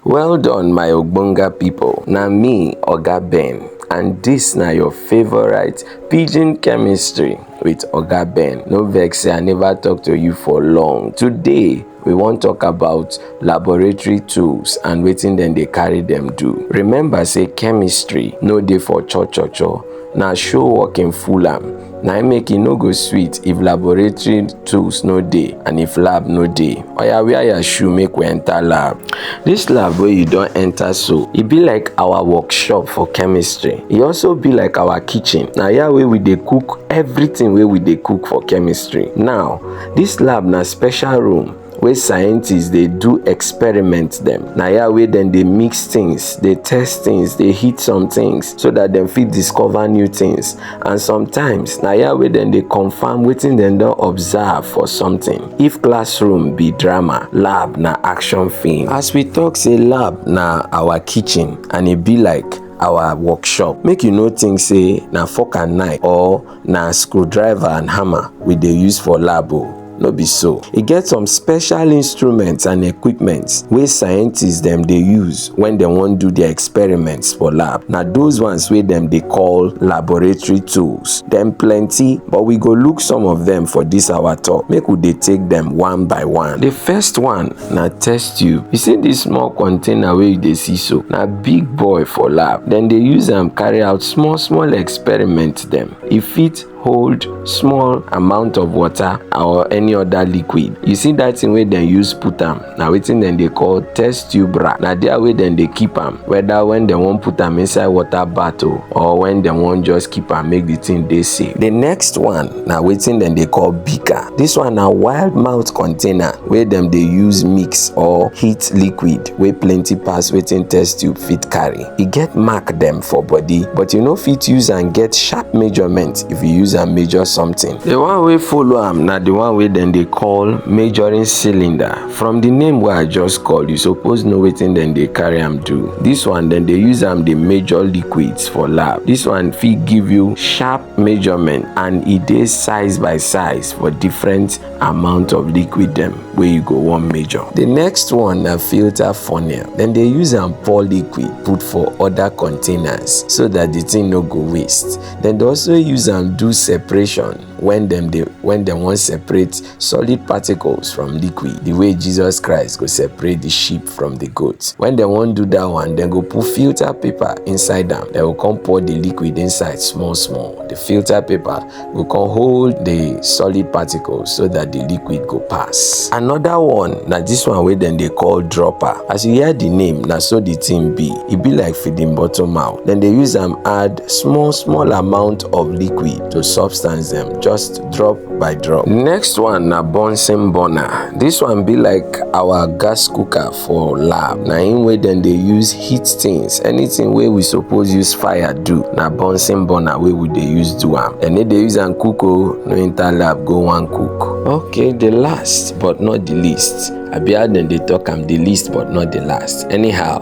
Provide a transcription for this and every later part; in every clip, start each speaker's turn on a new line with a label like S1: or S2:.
S1: Well done my ogbonga people, na me Oga Ben and this na your favorite pidgin chemistry with Oga Ben. No vex say I never talk to you for long. Today we wan talk about laboratory tools and wetin dem dey carry dem do. Remember say chemistry no dey for cho cho cho, na show work im full am. na im make e no go sweet if laboratory tools no dey and if lab no dey oya wear your shoe make we enter lab this lab wey you don enter so e be like our workshop for chemistry e also be like our kitchen na here wey we dey cook everything wey we dey cook for chemistry now this lab na special room wey scientists dey do experiment dem na ya wey dem dey mix things dey test things dey hit some things so that dem fit discover new things and sometimes na ya wey dem dey confirm wetin dem don observe for something if classroom be drama lab na action film as we talk say lab na our kitchen and e be like our workshop make you no think say na fork and knife or na screwdriver and hammer we dey use for lab o no be so e get some special instruments and equipment wey scientists dem dey use when dem wan do their experiments for lab na those ones wey dem dey call laboratory tools dem plenty but we go look some of them for this our talk make we dey take them one by one the first one na test tube you see this small container wey you dey see so na big boy for lab dem dey use am carry out small small experiments test them. E fit hold small amount of water or any other liquid. You see that thing wey dem use put am na wetin dem dey call test tube rack. Na there wey dem dey keep am whether when dem wan put am inside water bath o or when dem wan just keep am make the thing dey safe. The next one na wetin dem dey call beaker. This one na wild mouth container wey dem dey use mix or heat liquid wey plenty pass wetin test tube fit carry. e get mark dem for body but you no fit use am get sharp measurement if you use am measure something the one wey follow am na the one wey dem dey call measuring cylinder from the name wey i just call you suppose know wetin dem dey carry am do this one dem dey use am dey measure liquids for lab this one fit give you sharp measurement and e dey size by size for different amount of liquid dem wey you go wan measure. The next one na filter funnel. Dem dey use am pour liquid put for other containers so that the thing no go waste. Dem dey also use am do separation when dem dey when dem wan separate solid particles from liquid the way Jesus Christ go separate the sheep from the goat. When dem wan do that one, dem go put filter paper inside am. Dem go come pour the liquid inside small small. The filter paper we can hold the solid particle so that the liquid go pass another one na this one wey dem dey call dropper as you hear the name na so the thing be e be like feeding bottle mouth dem dey use am add small small amount of liquid to substance dem just drop by drop next one na bunsen burner this one be like our gas cooker for lab na im wey dem dey use heat things anything wey we suppose use fire do na bunsen burner wey we dey use do am dem no dey use am cook o no enter lab go wan cook. okay the last but not the least abi how dem dey talk am the least but not the last anyhow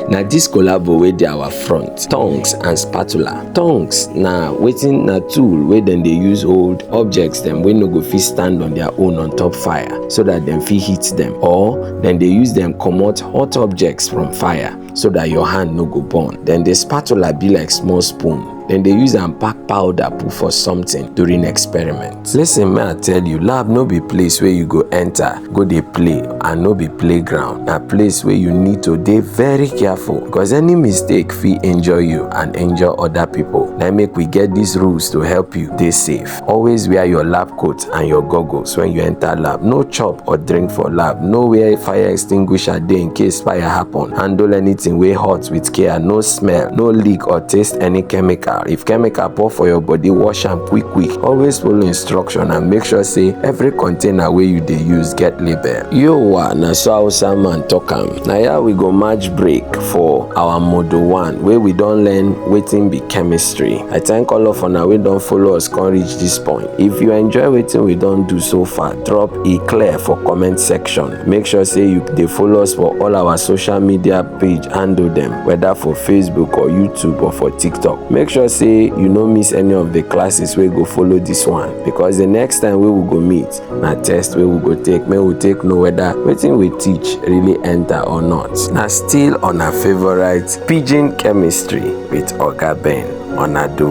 S1: na this collabo wey dey our front tongs and spatula Tongues na wetin na tool wey dem dey use hold objects dem wey no go fit stand on their own on top fire so that dem fit hit them or dem dey use them comot hot objects from fire so that your hand no go burn. Then the spatula be like small spoon. Dem dey use am pack powder put for something during experiment. listen me i tell you lab no be place wey you go enter go dey play and no be playground na place wey you need to dey very careful because any mistake fit injure you and injure other people na make we get these rules to help you dey safe always wear your lab coat and your goggles when you enter lab no chop or drink for lab no where fire extinguisher dey in case fire happen handle anything wey hot with care no smell no leak or taste any chemical if chemical pour for your body wash am quick quick always follow instruction and make sure say every container wey you dey use get label yowa na so hausa man talk am na ya we go match break for our modo one wey we don learn wetin be chemistry i thank all of una wey don follow us come reach this point if you enjoy wetin we don do so far drop e clear for comment section make sure say you dey follow us for all our social media page handle dem whether for facebook or youtube or for tiktok make sure say you no miss any of the classes wey go follow this one because the next time wey we go meet na test wey we go take make we take know whether wetin we teach really enter or not na still on our favourite pidgin chemistry with oga ben onadu